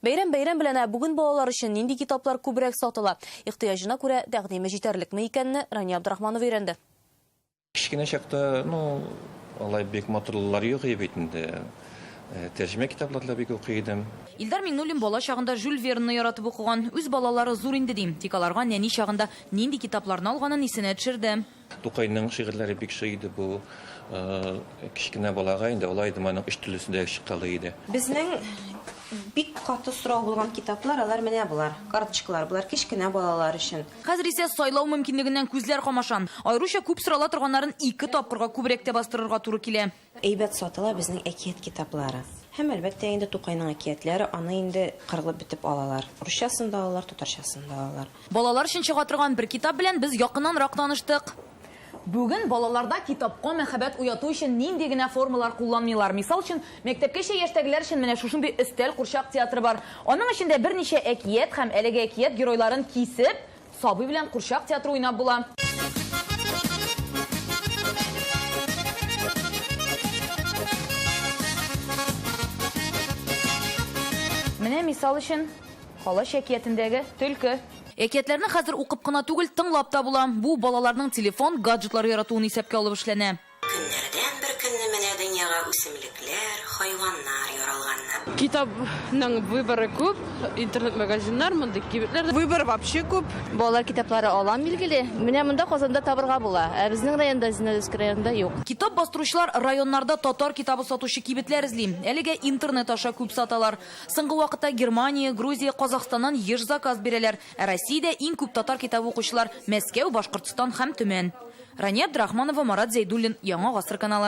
Бәйрәм бәйрәм белән, ә бүген балалар өчен нинди китаплар күбрәк сатыла, ихтыяҗына күрә тәкъдиме җитәрлекме икәнне Рания Абдрахманова өйрәнде. Кечкенә чакта, ну, алай бик матурлылар юк иде бит инде. Тәрҗемә китаплар да бик укый идем. Илдар Миңнуллин бала чагында Жюль Вернны яратып укыган. Үз балалары зур инде, дим, тик аларга нәни чагында нинди китапларны алганын исенә төшерде. Тукайның шигырьләре бик шый иде бу кечкенә балага инде алай идем аның өч телесе дә чыккалый иде. Безнең бик каты сорау булган китаплар алар менә болар, карточкалар, болар кечкенә балалар өчен. Хәзер исә сайлау мөмкинлегеннән күзләр камаша. Аеруча күп сорала торганнарын ике тапкырга күбрәк тә бастырырга туры килә. Әйбәт сатыла безнең әкият китаплары. Һәм, әлбәттә, инде Тукайның әкиятләре, аны инде кырылып бетеп алалар. Русчасын да алалар, татарчасын да алалар. Балалар өчен чыга торган бер китап белән без якыннанрак таныштык. Бүген балаларда китапка мәхәббәт уяту өчен нинди генә формалар кулланмыйлар. Мисал өчен, мәктәпкәчә яшьтәгеләр өчен менә шушындый өстәл курчак театры бар. Аның эчендә берничә әкият һәм әлеге әкият геройларын кисеп, Сабый белән курчак театры уйнап була. Менә мисал өчен, Калач әкиятендәге төлке. Әкиятләрне хәзер укып кына түгел, тыңлап та була. Бу балаларның телефон, гаджетлар яратуын исәпкә алып эшләнә. Көннәрдән бер көнне менә дөньяга үсемлекләр, хайваннар яралганнар. Китапның выборы күп, интернет-магазиннар, мондый кибетләр. Выбор вообще күп. Балалар китаплары алам, билгеле. Менә монда Казанда табырга була, ә безнең районда, Зеленодольск районында юк. Китап бастыручылар районнарда татар китабы сатучы кибетләр эзли. Әлегә интернет аша күп саталар. Соңгы вакытта Германия, Грузия, Казахстаннан еш заказ бирәләр. Ә Россиядә иң күп татар китабы укучылар, Мәскәү, Башкортстан һәм Төмән. Рания Абдрахманова, Марат Зәйдуллин, Яңа гасыр каналы.